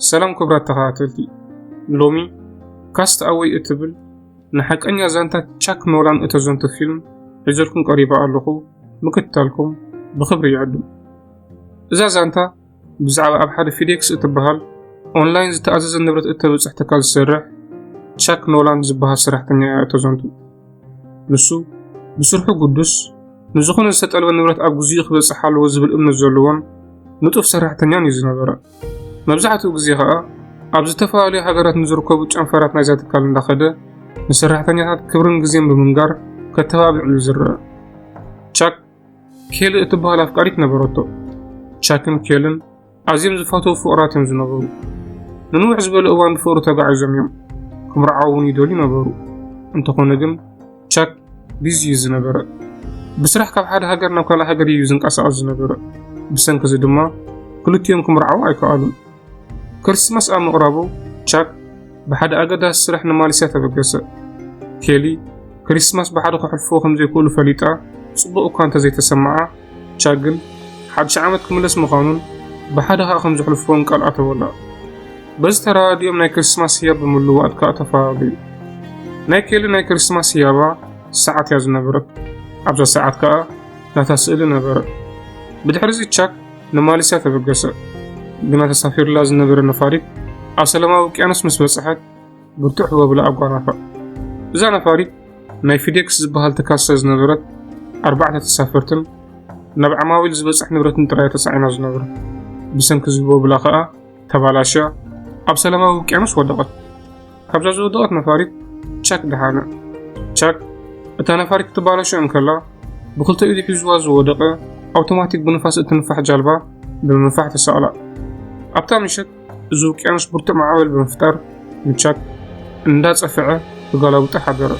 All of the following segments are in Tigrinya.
ሰላም ክብራት ተኸታተልቲ ሎሚ ካስት ኣወይ እትብል ንሓቀኛ ዛንታ ቻክ ኖላን እተዘንቱ ፊልም ሒዘልኩም ቀሪባ ኣለኹ ምክትታልኩም ብኽብሪ ይዕድም እዛ ዛንታ ብዛዕባ ኣብ ሓደ ፊዴክስ እትበሃል ኦንላይን ዝተኣዘዘ ንብረት እተብፅሕ ትካል ዝሰርሕ ቻክ ኖላን ዝበሃል ሰራሕተኛ እያ እተዘንቱ ንሱ ብስርሑ ግዱስ፣ ንዝኾነ ዝተጠልበ ንብረት ኣብ ግዜኡ ክበጽሕ ኣለዎ ዝብል እምነት ዘለዎን ንጡፍ ሰራሕተኛን እዩ ዝነበረ። መብዛሕትኡ ግዜ ከኣ ኣብ ዝተፈላለዩ ሃገራት ንዝርከቡ ጨንፈራት ናይዛ ትካል እንዳኸደ ንሰራሕተኛታት ክብርን ግዜን ብምንጋር ከተባብዕ እዩ ዝረአ። ቻክ ኬሊ እትበሃል ኣፍቃሪት ነበረቶ። ቻክን ኬልን ኣዝዮም ዝፈተዉ ፍቕራት እዮም ዝነበሩ። ንንውሕ ዝበለ እዋን ብፍቕሪ ተጋዒዞም እዮም። ክምርዓው እውን ይደልዩ ነበሩ። እንተኾነ ግን ቻክ ቢዚ እዩ ዝነበረ። ብስራሕ ካብ ሓደ ሃገር ናብ ካልእ ሃገር እዩ ዝንቀሳቐስ ዝነበረ። ብሰንኪ እዚ ድማ ክልቲኦም ክምርዓው ኣይከኣሉን። ክርስትማስ ኣብ ምቕራቡ ቻክ ብሓደ ኣገዳሲ ስራሕ ንማሌስያ ተበገሰ። ኬሊ ክርስትማስ ብሓደ ከሕልፍዎ ከም ዘይክእሉ ፈሊጣ ጽቡቕ እኳ እንተዘይተሰምዓ ቻግል ሓድሽ ዓመት ክምለስ ምዃኑን ብሓደ ከኣ ከም ዘሕልፍዎን ቃል ኣተወላ። በዚ ተረዳዲኦም ናይ ክርስማስ ህያብ ብምልዋጥ ከኣ ተፈላለዩ። ናይ ኬሊ ናይ ክርስማስ ህያባ ሰዓት እያ ዝነበረት። ኣብዛ ሰዓት ከኣ ናታ ስእሊ ነበረ። ብድሕሪዚ ቻክ ንማሌስያ ተበገሰ። ግና ተሳፊሩላ ዝነበረ ነፋሪት ኣብ ሰላማዊ ውቅያኖስ ምስ በጽሐት ብርቱዕ ህቦብላ ኣጓናፍዕ። እዛ ነፋሪት ናይ ፊዴክስ ዝበሃል ትካል ስለ ዝነበረት ኣርባዕተ ተሳፈርትን ናብ ዓማዊል ዝበጽሕ ንብረትን ጥራይ ተጻዒና ዝነበረ ብሰንኪ ዝህቦብላ ከኣ ተባላሻ ኣብ ሰላማዊ ውቅያኖስ ወደቐት ካብዛ ዝወደቐት ነፋሪት ቻክ ደሓነ ቻክ እታ ነፋሪት ክትባላሾ እንከላ ብክልተ ኢዱ ሒዝዋ ዝወደቐ ኣውቶማቲክ ብንፋስ እትንፋሕ ጃልባ ብምንፋሕ ተሰቕላ ኣብታ ምሸት እዚ ውቅያኖስ ብርቱዕ ማዕበል ብምፍጣር ምቻት እንዳጸፍዐ ተጋላብጡ ሓደረ።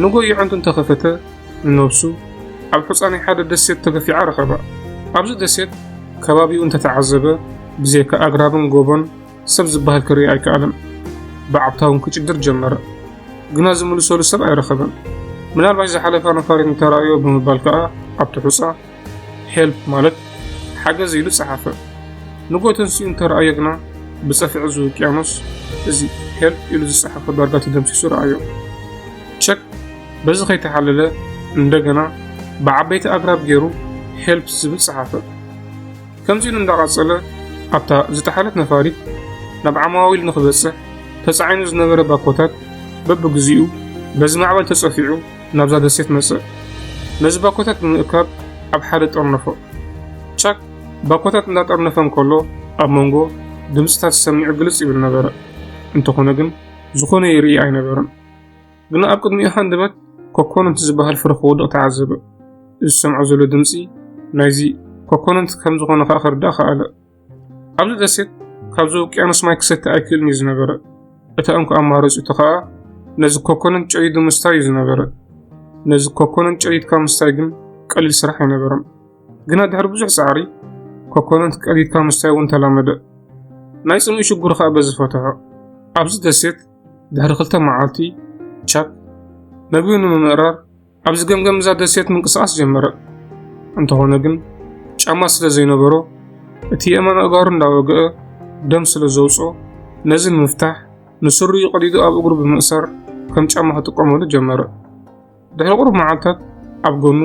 ንጎ ይዕንቱ እንተኸፈተ ንነብሱ ኣብ ሕጻ ናይ ሓደ ደሴት ተገፊዓ ረኸባ። ኣብዚ ደሴት ከባቢኡ እንተተዓዘበ ብዘይካ ኣግራብን ጎቦን ሰብ ዝበሃል ክርኢ ኣይከኣለን። ብዓብታውን ክጭድር ጀመረ። ግና ዝምልሰሉ ሰብ ኣይረኸበን። ምናልባሽ ዝሓለፋ ነፋሪት እንተረኣዮ ብምባል ከኣ ኣብቲ ሕጻ Help ማለት ሓገዝ ኢሉ ጸሓፈ። ንጎ ተንሲኡ እንተረኣዮ ግና ብጸፍዒ እዚ ውቅያኖስ እዚ Help ኢሉ ዝጸሓፈ ዳርጋ ተደምሲሱ ረኣዮ። ቸክ በዚ ከይተሓለለ እንደገና ብዓበይቲ ኣግራብ ገይሩ Help ዝብል ጸሓፈ። ከምዚ ኢሉ እንዳቐጸለ ኣብታ ዝጠሓለት ነፋሪት ናብ ዓማዊል ንክበጽሕ ተጻዒኑ ዝነበረ ባኮታት በብግዚኡ በዚ ማዕበል ተጸፊዑ ናብዛ ደሴት መጸ። ነዚ ባኮታት ንምእካብ ኣብ ሓደ ጠርነፎ። ቻክ ባኮታት እንዳጠርነፈ እንከሎ ኣብ መንጎ ድምጽታት ዝሰምዕ ግልጽ ይብል ነበረ። እንተኾነ ግን ዝኾነ ይርኢ ኣይነበረን። ግና ኣብ ቅድሚኡ ሃንደበት ኮኮነንት ዝበሃል ፍረ ክወድቕ ተዓዘበ። እዚ ዝሰምዖ ዘሎ ድምጺ ናይዚ ኮኮነንት ከም ዝኾነ ከኣ ክርዳእ ከኣለ። ኣብዚ ደሴት ካብዚ ውቅያኖስ ማይ ክሰቲ ኣይክእልን እዩ ዝነበረ እታ እንኮ ኣማረፂቱ ከዓ ነዚ ኮኮንን ጨይዱ ምስታይ እዩ ዝነበረ ነዚ ኮኮንን ጨይድካ ምስታይ ግን ቀሊል ስራሕ ኣይነበረን ግና ድሕሪ ብዙሕ ፃዕሪ ኮኮንን ቀሊድካ ምስታይ እውን ተላመደ ናይ ፅምኢ ሽጉር ከዓ በዚ ፈትሖ ኣብዚ ደሴት ድሕሪ ክልተ መዓልቲ ቻፕ መግቢ ንምምእራር ኣብዚ ገምገም እዛ ደሴት ምንቅስቓስ ጀመረ። እንተኾነ ግን ጫማ ስለ ዘይነበሮ እቲ የእማን ኣእጋሩ እንዳወግአ ደም ስለ ዘውጾ ነዚ ንምፍታሕ ንስሩ ይቐዲዱ ኣብ እግሩ ብምእሳር ከም ጫማ ክጥቀመሉ ጀመረ። ድሕሪ ቁሩብ መዓልታት ኣብ ጎኑ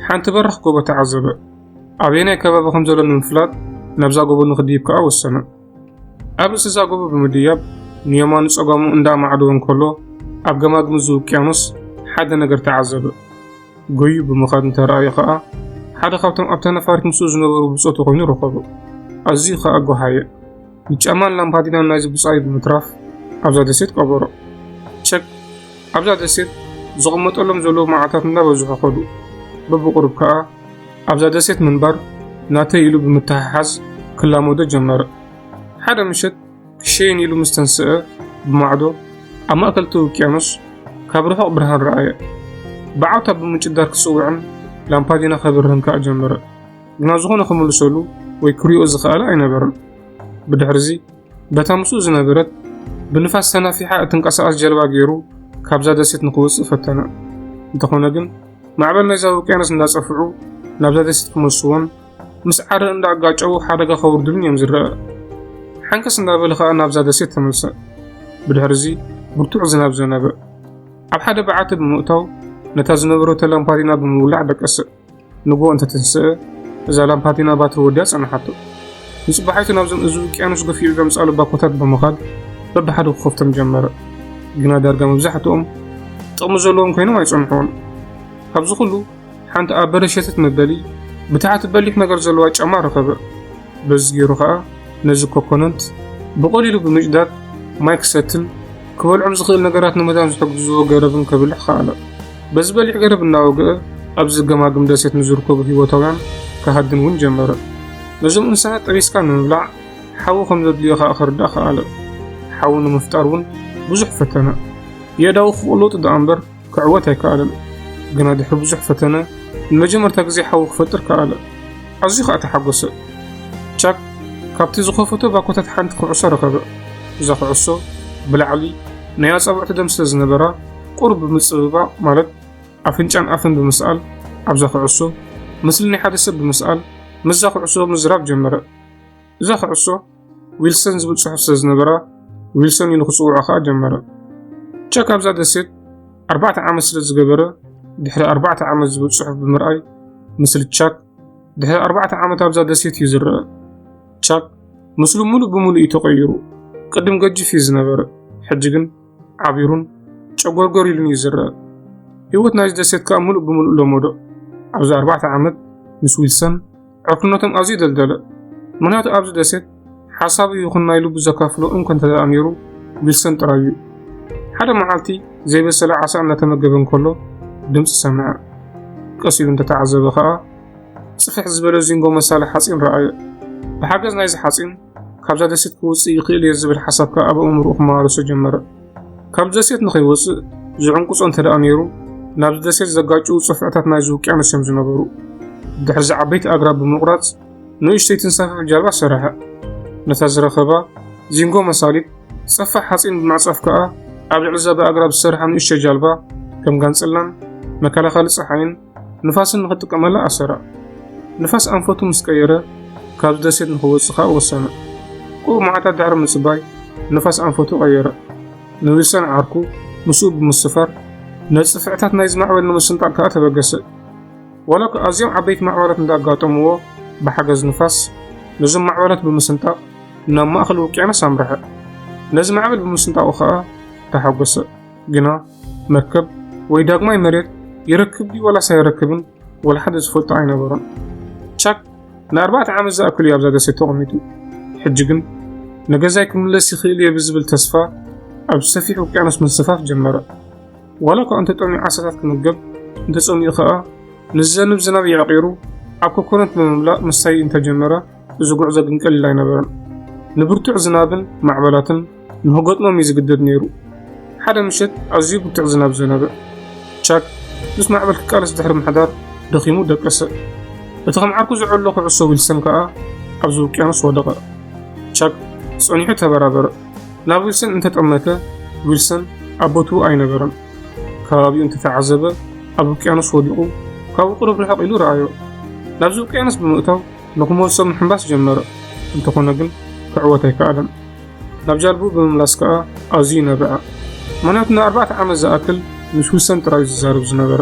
ሓንቲ በራኽ ጎቦ ተዓዘበ። ኣበየናይ ከባቢ ከም ዘሎ ንምፍላጥ ናብዛ ጎቦ ንክድይብ ከኣ ወሰነ። ኣብ ርእሲ እዛ ጎቦ ብምድያብ ንየማኑ ጸጋሙ እንዳ ኣማዕደወ እንከሎ ኣብ ገማግም እዚ ውቅያኖስ ሓደ ነገር ተዓዘበ። ጎዩ ብምኻድ እንተረኣየ ኸኣ ሓደ ካብቶም ኣብታ ነፋሪት ምስኡ ዝነበሩ ብጾቱ ኮይኑ ረኸቦ። ኣዝዩ ኸኣ ጎሃየ። ንጫማን ላምፓዲናን ናይዚ ብጻዩ ብምትራፍ ኣብዛ ደሴት ቀበሮ። ቸክ ኣብዛ ደሴት ዝቕመጠሎም ዘለዉ መዓልታት እናበዝሑ ኸዱ። በብቑሩብ ከኣ ኣብዛ ደሴት ምንባር ናተይ ኢሉ ብምትሕሓዝ ክላመዶ ጀመረ። ሓደ ምሸት ክሸይን ኢሉ ምስ ተንስአ ብማዕዶ ኣብ ማእከል እቲ ውቅያኖስ ካብ ርሑቕ ብርሃን ረኣየ። ብዓውታ ብምጭዳር ክጽውዕን ላምፓዲና ከብርህን ከኣ ጀመረ። ግና ዝኾነ ክምልሰሉ ወይ ክሪኦ ዝኸኣለ ኣይነበረን። ብድሕርዚ በታ ምስኡ ዝነበረት ብንፋስ ተናፊሓ እትንቀሳቐስ ጀልባ ገይሩ ካብዛ ደሴት ንክወጽእ ፈተነ። እንተኾነ ግን ማዕበል ናይዛ ውቅያኖስ እንዳጸፍዑ ናብዛ ደሴት ክመልስዎን ምስ ዓረ እንዳኣጋጨው ሓደጋ ከውርድሉን እዮም ዝረአ። ሓንከስ እንዳበለ ከኣ ናብዛ ደሴት ተመልሰ። ብድሕርዚ ብርቱዕ ዝናብ ዘነበ። ኣብ ሓደ በዓቲ ብምእታው ነታ ዝነበረቶ ላምፓዲና ብምውላዕ ደቀሰ። ንጎ እንተተንስአ እዛ ላምፓዲና ባትሪ ወዲያ ጸንሓቶ። ንጽባሒቱ ናብዞም እዚ ውቅያኖስ ገፊዑ ዘምጽኣሉ ባኮታት ብምኻድ በብሓደ ክኸፍቶም ጀመረ። ግና ዳርጋ መብዛሕትኦም ጥቕሚ ዘለዎም ኮይኖም ኣይጸንሑን። ካብዚ ኩሉ ሓንቲ ኣብ በረድ ሸተት መበሊ ብታሕቲ በሊሕ ነገር ዘለዋ ጫማ ረኸበ። በዚ ገይሩ ከኣ ነዚ ኮኮነንት ብቐሊሉ ብምጭዳድ ማይ ክሰትን ክበልዖም ዝኽእል ነገራት ንምዳን ዝሕግዝዎ ገረብን ከብልሕ ከኣለ። በዚ በሊሕ ገረብ እናወግአ ኣብ ዝገማግም ደሴት ንዝርከቡ ህይወታውያን ክሃድን እውን ጀመረ። ነዞም እንስሳት ጠቢስካ ንምብላዕ ሓዊ ከም ዘድልዮ ከኣ ክርዳእ ከኣለ። ሓዊ ንምፍጣር እውን ብዙሕ ፈተነ። የእዳዉ ክቕሎጡ ደኣ እምበር ክዕወት ኣይከኣለን፣ ግና ድሕሪ ብዙሕ ፈተነ ንመጀመርታ ግዜ ሓዊ ክፈጥር ከኣለ። ኣዝዩ ኸኣ ተሓጐሰ። ቻክ ካብቲ ዝኸፈቶ ባኮታት ሓንቲ ኩዕሶ ረኸበ። እዛ ኩዕሶ ብላዕሊ ናይ ኣጻብዕቱ ደም ስለ ዝነበራ ቁሩብ ብምጽብባቕ ማለት ኣፍንጫን ኣፍን ብምስኣል ኣብዛ ኩዕሶ ምስሊ ናይ ሓደ ሰብ ብምስኣል ምስዛ ኩዕሶ ምዝራብ ጀመረ። እዛ ኩዕሶ ዊልሰን ዝብል ጽሑፍ ስለ ዝነበራ ዊልሰን ኢሉ ክጽውዖ ከኣ ጀመረ። ቸክ ኣብዛ ደሴት ኣርባዕተ ዓመት ስለ ዝገበረ ድሕሪ ኣርባዕተ ዓመት ዝብል ጽሑፍ ብምርኣይ ምስሊ ቻክ ድሕሪ ኣርባዕተ ዓመት ኣብዛ ደሴት እዩ ዝረአ። ቻክ ምስሉ ሙሉእ ብምሉእ እዩ ተቐይሩ። ቅድም ገጅፍ እዩ ዝነበረ፣ ሕጂ ግን ዓቢሩን ጨጎርጎር ኢሉን እዩ ዝረአ። ህይወት ናይዚ ደሴት ከኣ ሙሉእ ብምሉእ ለመዶ። ኣብዚ ኣርባዕተ ዓመት ምስ ዊልሰን ዕርክነቶም ኣዝዩ ደልደለ። ምክንያቱ ኣብዚ ደሴት ሓሳቡ ይኹን ናይ ልቡ ዘካፍሎ እንኮ እንተደኣ ነይሩ ዊልሰን ጥራይ እዩ። ሓደ መዓልቲ ዘይበሰለ ዓሳ እናተመገበ እንከሎ ድምፂ ሰምዐ። ቀስ ኢሉ እንተተዓዘበ ከኣ ጽፍሕ ዝበለ ዚንጎ መሳሊ ሓጺን ረኣየ። ብሓገዝ ናይዚ ሓጺን ካብዛ ደሴት ክወፅእ ይኽእል እየ ዝብል ሓሳብ ከዓ ኣብ ኣእምሮኡ ክመላለሶ ጀመረ። ካብ ደሴት ንኸይወፅእ ዝዕንቁፆ እንተደኣ ነይሩ ናብዚ ደሴት ዘጋጭው ፅፍዕታት ናይዚ ውቅያኖስ እዮም ዝነበሩ። ድሕርዚ ዓበይቲ ኣግራብ ብምቑራፅ ንእሽተይ ትንሳፈፍ ጃልባ ሰረሐ። ነታ ዝረኸባ ዚንጎ መሳሊት ፀፋሕ ሓፂን ብምዕፃፍ ከዓ ኣብ ልዕሊ እዛ ብኣግራብ ዝሰርሓ ንእሽተይ ጃልባ ከም ጋንፅላን መከላኸሊ ፀሓይን ንፋስን ንኽጥቀመላ ኣሰራ። ንፋስ ኣንፈቱ ምስ ቀየረ ካብዚ ደሴት ንኽወጽእ ከኣ ወሰነ። ቅሩብ መዓልታት ድሕሪ ምጽባይ ንፋስ ኣንፈቱ ቀየረ። ንዊልሰን ዓርኩ ምስኡ ብምስፋር ነጽፍዕታት ናይዚ ማዕበል ንምስንጣቕ ከኣ ተበገሰ። ዋላ እኳ ኣዝዮም ዓበይቲ ማዕበላት እንዳኣጋጠምዎ ብሓገዝ ንፋስ ነዞም ማዕበላት ብምስንጣቕ ናብ ማእከል ውቅያኖስ ኣምርሐ። ነዚ ማዕበል ብምስንጣቑ ከኣ ተሓጎሰ። ግና መርከብ ወይ ዳግማይ መሬት ይረክብ ድዩ ዋላስ ኣይረክብን ወላ ሓደ ዝፈልጦ ኣይነበሮን። ቻክ ንኣርባዕተ ዓመት ዝኣክል እዩ ኣብዛ ደሴት ተቐሚጡ። ሕጂ ግን ንገዛይ ክምለስ ይኽእል እየ ብዝብል ተስፋ ኣብ ሰፊሕ ውቅያኖስ ምንስፋፍ ጀመረ። ዋላ እኳ እንተጠምዩ ዓሳታት ክምገብ እንተጸሚኡ ከኣ ንዝዘንብ ዝናብ የዕቂሩ ኣብ ኮኮነት ብምምላእ ምስታይ እንተጀመረ እዚ ጉዕዞ ግን ቀሊል ኣይነበረን። ንብርቱዕ ዝናብን ማዕበላትን ንክገጥሞም እዩ ዝግደድ ነይሩ። ሓደ ምሸት ኣዝዩ ብርቱዕ ዝናብ ዘነበ። ቻክ ምስ ማዕበል ክቃለስ ድሕሪ ምሕዳር ደኺሙ ደቀሰ። እቲ ከም ዓርኩ ዝዕሎ ኩዕሶ ዊልሰን ከኣ ኣብዚ ውቅያኖስ ወደቐ። ቻክ ጸኒሑ ተበራበረ። ናብ ዊልሰን እንተጠመተ ዊልሰን ኣብ ቦትኡ ኣይነበረን። ከባቢኡ እንተተዓዘበ ኣብ ውቅያኖስ ወዲቑ ካብኡ ቅሩብ ርሕቕ ኢሉ ረኣዮ። ናብዚ ውቅያኖስ ብምእታው ንክመልሶ ምሕንባስ ጀመረ፣ እንተኾነ ግን ክዕወት ኣይከኣለን። ናብ ጃልብኡ ብምምላስ ከኣ ኣዝዩ ነብዐ፣ ምኽንያቱ ንኣርባዕተ ዓመት ዝኣክል ምስ ዊልሰን ጥራዩ ዝዛረብ ዝነበረ።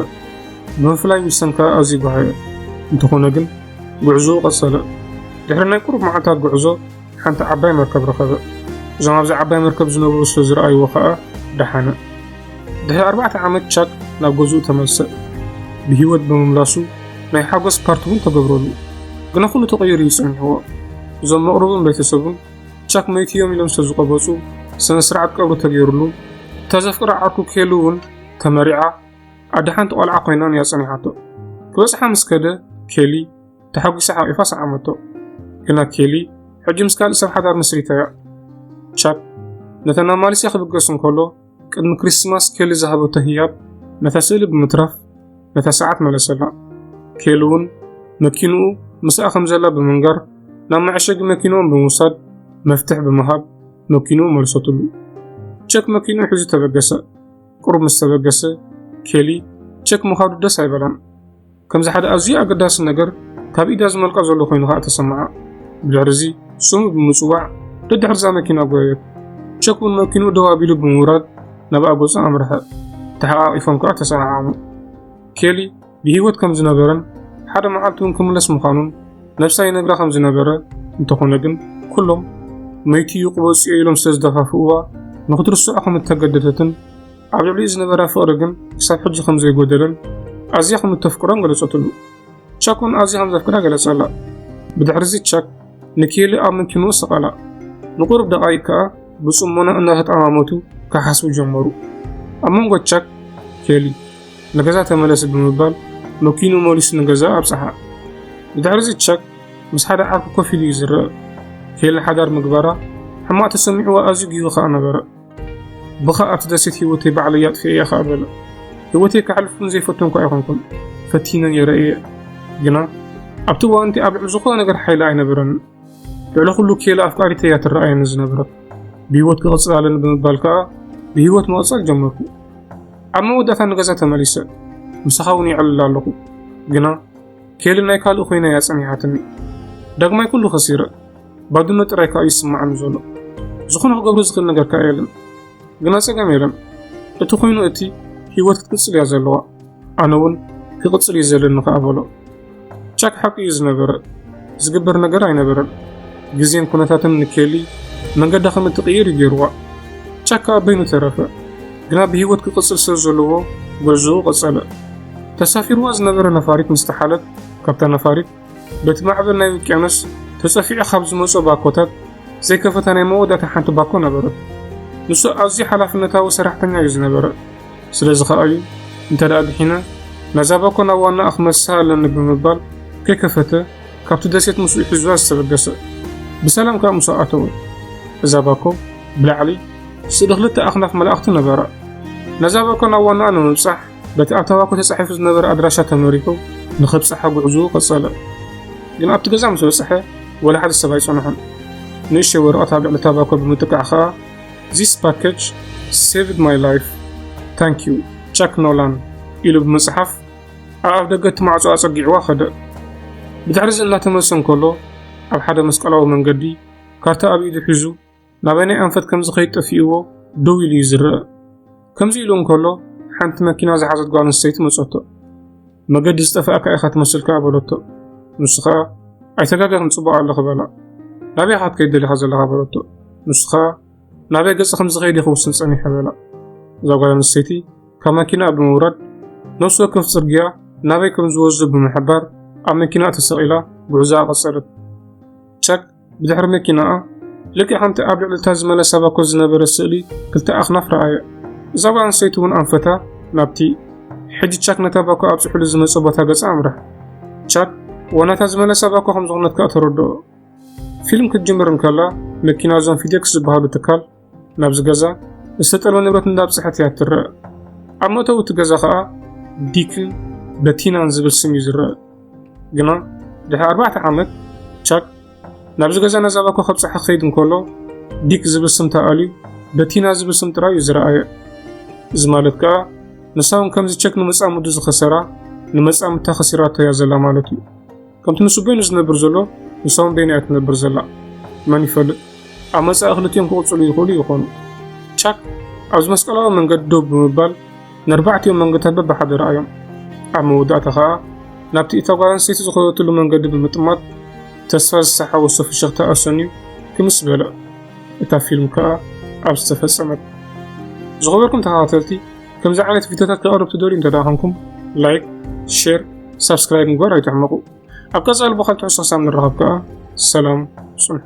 ብምፍላይ ዊልሰን ከኣ ኣዝዩ በሃዮ፣ እንተኾነ ግን ጉዕዞኡ ቀጸለ። ድሕሪ ናይ ቁሩብ መዓልታት ጉዕዞ፣ ሓንቲ ዓባይ መርከብ ረኸበ። እዞም ኣብዛ ዓባይ መርከብ ዝነበሩ ስለ ዝረኣይዎ ኸኣ ደሓነ። ድሕሪ ኣርባዕተ ዓመት ቻክ ናብ ገዝኡ ተመልሰ። ብህይወት ብምምላሱ ናይ ሓጎስ ፓርቲ እውን ተገብረሉ። ግና ኩሉ ተቐይሩ እዩ ጸኒሕዎ። እዞም መቕርቡን ቤተሰቡን ቻክ መይቱ እዮም ኢሎም ስለ ዝቐበጹ ስነ ስርዓት ቀብሪ ተገይሩሉ። እታ ዘፍቅራ ዓርኩ ኬሉ እውን ተመሪዓ ኣደ ሓንቲ ቆልዓ ኮይናን እያ ጸኒሓቶ። ክበጽሓ ምስ ከደ ኬሊ ተሓጒሳ ሓቚፋ ሰዓመቶ። ግና ኬሊ ሕጂ ምስ ካልእ ሰብ ሓዳር መስሪታ እያ። ቻክ ነተን ናብ ማሌስያ ክብገስ እንከሎ ቅድሚ ክሪስትማስ ኬሊ ዝሃበቶ ህያብ ነታ ስእሊ ብምትራፍ ነታ ሰዓት መለሰላ። ኬሊ እውን መኪንኡ ምስኣ ከም ዘላ ብምንጋር ናብ መዐሸጊ መኪንኦም ብምውሳድ መፍትሕ ብምሃብ መኪንኡ መልሰትሉ። ቸክ መኪንኡ ሒዙ ተበገሰ። ቁሩብ ምስ ተበገሰ ኬሊ ቸክ ምኻዱ ደስ ኣይበላን። ከምዚ ሓደ ኣዝዩ ኣገዳሲ ነገር ካብ ኢዳ ዝመልቃ ዘሎ ኮይኑ ከኣ ተሰምዓ። ብድሕሪ እዚ ስሙ ብምጽዋዕ ደድሕርዛ መኪና ጎየት። ቸክ እውን መኪኑ ደው ኣቢሉ ብምውራድ ናብ ኣጎጻ ኣምርሐ። ተሓቛቒፎም ከኣ ተሰዓዓሙ። ኬሊ ብህይወት ከም ዝነበረን ሓደ መዓልቲ እውን ክምለስ ምዃኑን ነብሳ ይነግራ ከም ዝነበረ እንተኾነ ግን ኩሎም መይቱ እዩ ቅበጽዮ ኢሎም ስለ ዝደፋፍእዋ ንኽትርስዖ ከም እተገደደትን ኣብ ልዕሊኡ ዝነበራ ፍቕሪ ግን ክሳብ ሕጂ ከም ዘይጎደለን ኣዝያ ከም እተፍቅሮን ገለጸትሉ። ቻክ እውን ኣዝያ ከም ዘፍቅራ ገለጸላ። ብድሕርዚ ቻክ ንኬሊ ኣብ መኪንኡ ሰቐላ። ንቑሩብ ደቓይቅ ከኣ ብጽሞና እናተጠማመቱ ክሓስቡ ጀመሩ። ኣብ መንጎ ቻክ ኬሊ ንገዛ ተመለሲ ብምባል መኪኑ መሊሱ ንገዛ ኣብጽሓ። ብድሕርዚ ቻክ ምስ ሓደ ዓርኩ ኮፍ ኢሉ እዩ ዝረአ። ኬሊ ሓዳር ምግባራ ሕማቕ ተሰሚዕዋ ኣዝዩ ጊሁ ከኣ ነበረ። ብኸ ኣብቲ ደሴት ህይወተይ ባዕለይ ኣጥፊኤ እየ ኸኣ በለ። ህይወተይ ከሕልፍኩም ዘይፈቱ እኳ ኣይኮንኩን፣ ፈቲነ ነይረ እየ። ግና ኣብቲ እዋን እቲ ኣብ ልዕሊ ዝኾነ ነገር ሓይሊ ኣይነበረን። ልዕሊ ኩሉ ኬላ ኣፍቃሪተ እያ ትረኣየኒ ዝነበረት። ብህይወት ክቕፅል ኣለኒ ብምባል ከኣ ብህይወት መቐፀል ጀመርኩ። ኣብ መወዳእታ ንገዛ ተመሊሰ ምሳኻ እውን ይዕልል ኣለኹ። ግና ኬሊ ናይ ካልእ ኮይና እያ ፀኒሓትኒ። ዳግማይ ኩሉ ከሲረ። ባድነት ጥራይ ከኣ ይስምዓኒ ዘሎ ዝኾነ ክገብሮ ዝኽእል ነገር ከኣ የለን ግና ጸገም የለን እቲ ኮይኑ እቲ ህይወት ክትቅጽል እያ ዘለዋ ኣነ እውን ክቕጽል እዩ ዘለኒ ከኣ በሎ ቻክ ሓቂ እዩ ዝነበረ ዝግበር ነገር ኣይነበረን ግዜን ኩነታትን ንኬሊ መንገዳ ከም እትቕይር እዩ ገይርዋ ቻክ ከኣ በይኑ ተረፈ ግና ብህይወት ክቕጽል ስለ ዘለዎ ጉዕዞኡ ቀጸለ ተሳፊርዋ ዝነበረ ነፋሪት ምስ ተሓለት ካብታ ነፋሪት በቲ ማዕበል ናይ ውቅያኖስ ተጸፊዑ ካብ ዝመጾ ባኮታት ዘይከፈታ ናይ መወዳእታ ሓንቲ ባኮ ነበረት። ንሱ ኣዝዩ ሓላፍነታዊ ሰራሕተኛ እዩ ዝነበረ። ስለዚ ከኣ እዩ እንተ ደኣ ድሒነ ነዛ ባኮ ናብ ዋናኣ ክመልሳ ኣለኒ ብምባል ከይከፈተ ካብቲ ደሴት ምስኡ ሒዙዋ ዝተበገሰ። ብሰላም ከኣ ምስኡ ኣተወ። እዛ ባኮ ብላዕሊ ስእሊ ክልተ ኣኽናፍ መላእኽቲ ነበራ። ነዛ ባኮ ናብ ዋናኣ ንምብጻሕ በቲ ኣብ ታባኮ ተጻሒፉ ዝነበረ ኣድራሻ ተመሪሑ ንኸብጽሓ ጉዕዝኡ ቀጸለ። ግን ኣብቲ ገዛ ምስ በጽሐ ወላ ሓደ ሰብ ኣይጸንሖን። ንእሽተይ ወረቐት ኣብ ልዕሊ ታባኮ ብምጥቃዕ ከኣ ዚስ ፓኬጅ ሴቭድ ማይ ላይፍ ታንክ ዩ ቻክ ኖላን ኢሉ ብምጽሓፍ ኣብ ኣፍ ደገ እቲ ማዕጾ ኣጸጊዕዋ ከደ። ብድሕርዚ እናተመልሰ እንከሎ ኣብ ሓደ መስቀላዊ መንገዲ ካርታ ኣብ ኢዱ ሒዙ ናበናይ ኣንፈት ከም ዝኸይድ ጠፊእዎ ደው ኢሉ እዩ ዝረአ። ከምዚ ኢሉ እንከሎ ሓንቲ መኪና ዝሓዘት ጓል ኣንስተይቲ መጸቶ። መገዲ ዝጠፍኣካ ኢኻ ትመስል ከኣ በለቶ። ንሱ ከኣ ኣይተጋገኽን ጽቡቕ ኣለኺ በላ። ናበይ ኢኻ ክትከይድ ደሊኻ ዘለኻ በለቶ። ንሱ ከኣ ናበይ ገጽ ከም ዝኸይድ ይኽውስን ጸኒሐ በላ። እዛ ጓል ኣንስተይቲ ካብ መኪና ብምውራድ ነፍሲ ወከፍ ጽርግያ ናበይ ከም ዝወዝብ ብምሕባር ኣብ መኪና ተሰቒላ ጉዕዛኣ ቀጸለት። ጨቅ ብድሕሪ መኪናኣ ልክዕ ከምቲ ኣብ ልዕሊ እታ ዝመለሳ ባኮ ዝነበረ ስእሊ ክልተ ኣኽናፍ ረኣየ። እዛ ጓል ኣንስተይቲ እውን ኣንፈታ ናብቲ ሕጂ ቻክ ነታ ባኮ ኣብጽሑሉ ዝመጸ ቦታ ገጻ ኣምርሕ። ቻክ ዋናታ ዝመለሳ ባኮ ከም ዝኾነት ከኣ ተረድኦ። ፊልም ክትጅምር እንከላ መኪና እዞም ፊዴክስ ዝበሃሉ ትካል ናብዚ ገዛ ዝተጠልመ ንብረት እንዳብፅሐት እያ እትረአ። ኣብ መእተዊ እቲ ገዛ ከኣ ዲክን በቲናን ዝብል ስም እዩ ዝረአ። ግና ድሕሪ ኣርባዕተ ዓመት ቻክ ናብዚ ገዛ ነዛ ባኮ ከብፅሓ ክኸይድ እንከሎ ዲክ ዝብል ስም ተኣልዩ በቲና ዝብል ስም ጥራይ እዩ ዝረኣየ። እዚ ማለት ከኣ ንሳ እውን ከምዚ ቸክ ንመጻምዱ ዝኸሰራ ንመጻምድታ ከሲራቶ እያ ዘላ ማለት እዩ። ከምቲ ንሱ በይኑ ዝነብር ዘሎ ንሳውን በይና እያ ትነብር ዘላ መን ይፈልጥ ኣብ መጻኢ ክልቲኦም ክቕጽሉ ይኽእሉ ይኾኑ ቻክ ኣብዚ መስቀላዊ መንገዲ ደው ብምባል ንኣርባዕቲኦም መንገድታት በብሓደ ረኣዮም ኣብ መወዳእታ ኸኣ ናብቲ እታ ጓል ኣንስተይቲ ዝኸደትሉ መንገዲ ብምጥማት ተስፋ ዝሰሓወሶ ፍሽኽታ ኣሰንዩ ክምስ በለ እታ ፊልም ከኣ ኣብ ዝተፈጸመት ዝኸበርኩም ተኸታተልቲ ከምዚ ዓይነት ቪድዮታት ከቕርብ ትደልዩ እንተ ኾንኩም ላይክ ሼር ሳብስክራይብ ምግባር ኣይትሕመቑ ኣብ ቀፃሊ ብካልቲ ሕሶ ክሳብ ንራኸብ ከዓ ሰላም ፅንሑ